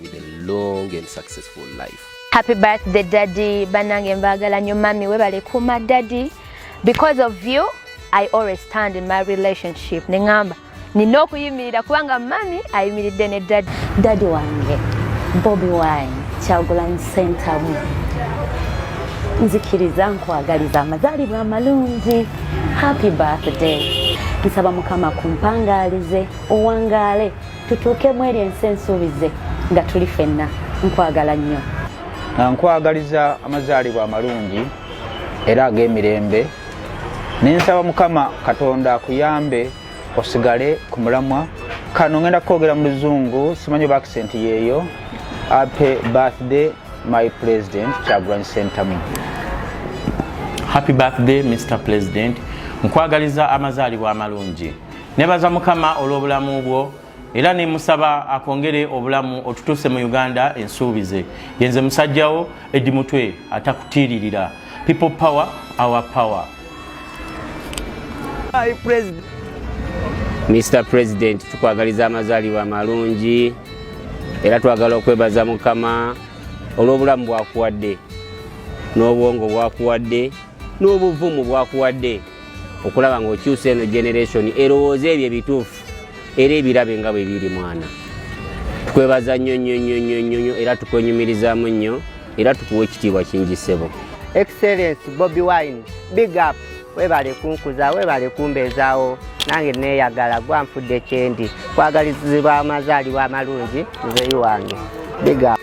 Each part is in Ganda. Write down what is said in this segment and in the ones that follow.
with a long and successful life. Happy birthday daddy banange mbagala nyo mami webale kuma daddy because of you I always stand in my relationship nengamba nina okuyimirira kubanga mami ayimiridde ne daddy daddy wange Bobby Wine Kyagulanyi Ssentamu nzikiriza nkwagaliza amazaalibwa amalungi happy birthday nsaba mukama kumpangaalize owangaale tutuuke mu eri ensi ensuubize nga tuli fenna nkwagala nnyo nkwagaliza amazaalibwa amalungi era ag'emirembe nensaba mukama katonda akuyambe osigale ku mulamwa kano ngenda kwogera mu luzungu simanyi oba akisenti yeeyo ape birthday my president kyagulanyi sentamu happy birthday mr president nkwagaliza amazaalibwa amalungi nebaza mukama olw'obulamu bwo era nemusaba akwongere obulamu otutuuse mu uganda ensuubize yenze musajjawo edi mutwe atakutiiririra people power our power mr president tukwagaliza amazaalibwa amalungi era twagala okwebaza mukama olw'obulamu bwakuwadde n'obwongo bwakuwadde n'obuvumu bwakuwadde okulaba ng'okyusa eno generation erowooza ebyo ebituufu era ebirabe nga bwe biri mwana tukwebaza nnyo nnyo nnyo nnyo nnyo nnyo era tukwenyumirizaamu nnyo era tukuwa ekitiibwa kingi ssebo excellence bobi wine big up webale kunkuza webale kumbeezaawo nange neeyagala gwanfudde kyendi kwagalizibwa amazaalibwa amalungi nzeyi wange big up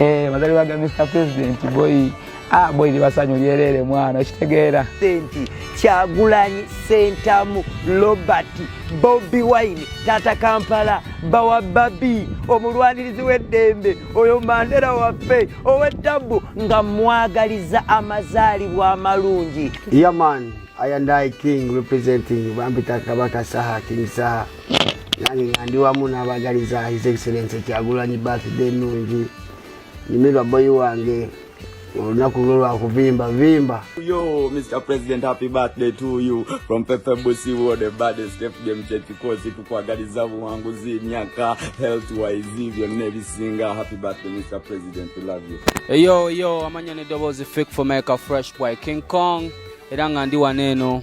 Eh, mazaliwa ga Mr President boy ah boy libasanyu lyerere mwana kitegeera senti kyagulanyi sentamu Robert Bobby Wine tata Kampala bawa babi omulwanirizi w'eddembe oyo Mandela waffe ow'ettabu nga mwagaliza amazaalibwa amalungi yaman yeah, I and I King representing Bambita Kabaka Saha King Saha nange nga ndi wamu n'abagaliza his excellence kyagulanyi birthday ennungi nyumirwa boyi wange olunaku lwo lwakuvimba vimba yo mr president happy birthday to you from pepe busi wo the baddest fdm kyekikozi tukwagaliza buwanguzi myaka health wise byonna ebisinga happy birthday mr president love you eyo yo amanya ne dobozi fik for meka fresh boy king kong era nga ndi wano eno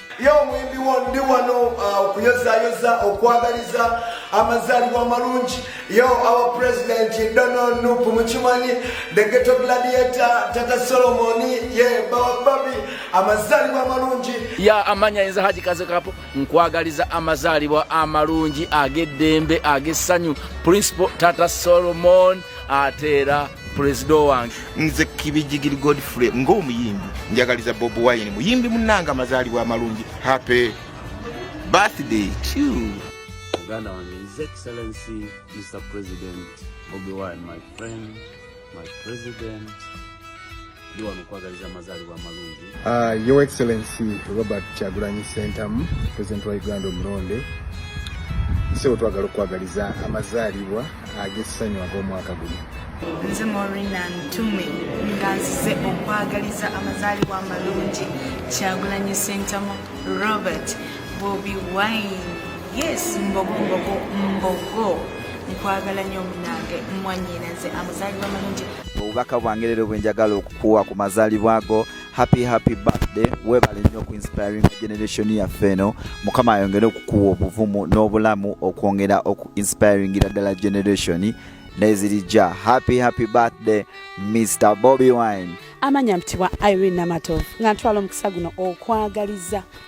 ye omuyimbi wo ndi wano uh, okuyozayoza okwagaliza amazaalibwa amalungi yo our president donald nup mukimanyi the geto gladiator tata solomoni ye bawababi amazaalibwa amalungi ya amanya yinza haji kazekapo nkwagaliza amazaalibwa amalungi ag'eddembe ag'essanyu principal tata solomon ate era pulezida wange nze kibijigiri godfrey ng'omuyimbi njagaliza bob wine muyimbi munanga amazaalibwa amalungi happy birthday to muganda wange his excellency mr president bobi wine my friend my president ndi wano okwagaliza amazaalibwa amalungi uh, your excellency robert kyagulanyi sentamu president wa uganda omulonde nsebo twagala okwagaliza amazaalibwa ag'essanyu ag'omwaka guno nze morina ntume nga nzize okwagaliza amazaalibwa amalungi kyagulanyi sentamu robert bobi wine yes mbogo mbogo mbogo nkwagala nyo munange mwanyinaze amazaalibwa amalungi obubaka bwange leero bwenjagala okukuwa ku mazaalibwa go happy happy birthday webale nnyo ku inspiring generation yaffe eno mukama ayongere okukuwa obuvumu n'obulamu okwongera oku inspiringira ddala generation nezirijja happy happy birthday mr bobi wine amanya mpitibwa irene namatovu nga ntwala omukisa guno okwagaliza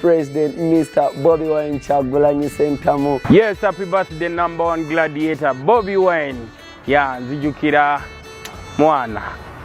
President Mr. Bobby Wine Kyagulanyi Sentamu. Yes, happy birthday number one gladiator Bobby Wine. Ya nzijukira mwana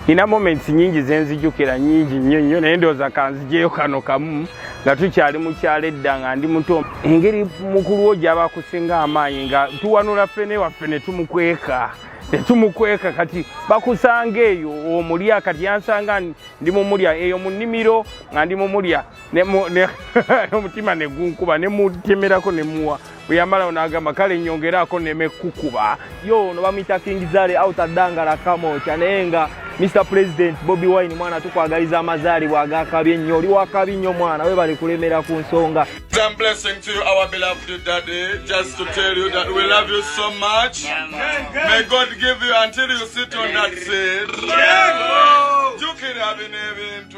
nina moments nyingi zenzijukira nyingi nnyo nnyo naye ndowooza kanzijeyo kano kamu nga tukyali mukyalo edda nga ndi muto engeri mukulu wo gyaba akusinga amaanyi nga tuwanula ffene waffe ne tumukweka ne tumukweka kati bakusanga eyo omulya kati yansanga ndi mumulya eyo mu nnimiro nga ndi mumulya n'omutima ne gunkuba ne mutemerako ne muwa bwe yamalawo n'agamba kale nyongeraako neme kukuba yo ono bamuyita kingizale autadangala kamokya naye nga mr president bobi wine mwana tukwagaliza amazaalibwa agakabi ennyo oli wakabi nnyo mwana we bali kulemera ku nsonga jukira bino ebintu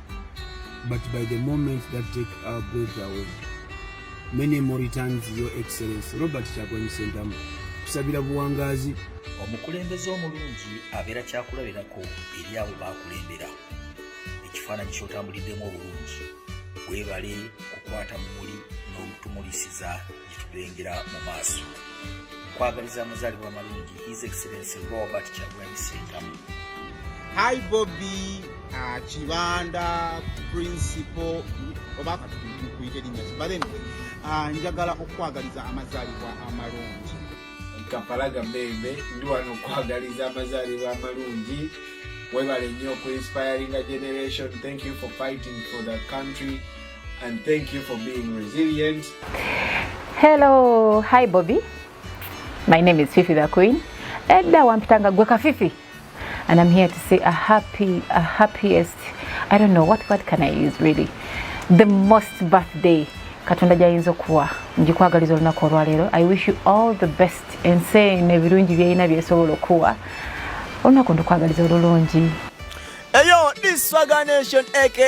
but by the moment that take our breath away many more returns your excellence robert kyagulanyi sentamu kusabira buwangazi omukulembeze omulungi abeera kyakulabirako eri abo bakulembera ekifaananyi kyotambuliddemu obulungi webale kukwata mumuli n'omutumulisiza gyetugengera mu maaso nkwagaliza amazaalibwa amalungi his excellency robert kyagulanyi sentamu hi bobi uh, kibanda principal oba katukuite linya kibale uh, njagala okukwagaliza amazaalibwa amalungi kampala gambembe ndi wano okwagaliza amazaalibwa amalungi webale nnyo okuinspiringa generation thank you for fighting for the country and thank you for being resilient. Hello, hi Bobby. My name is Fifi the Queen. Edda wampitanga gwe ka Fifi. And I'm here to say a happy, a happiest, I don't know, what word can I use really? The most birthday katonda gyayinza okuwa ngikwagaliza olunaku olwaleero i wish you all the best ensi eno ebirungi byeyina byesobola okuwa olunaku ndukwagaliza olulungi eyo diswaganation aka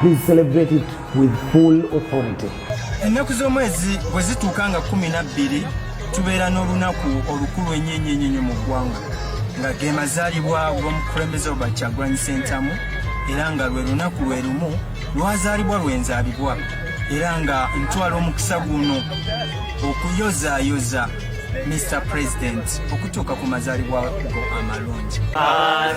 Please celebrate it with full authority. Ennaku z'omwezi bwe zituuka nga kumi na bbiri tubeera n'olunaku olukulu enyenyenyenyo mu ggwanga nga ge mazaalibwa g'omukulembeze oba Kyagulanyi Ssentamu era nga lwe lunaku lwe lumu lwazaalibwa lwenzaalibwa era nga ntwala omukisa guno okuyozaayoza Mr. President okutuuka ku mazaalibwa go amalungi.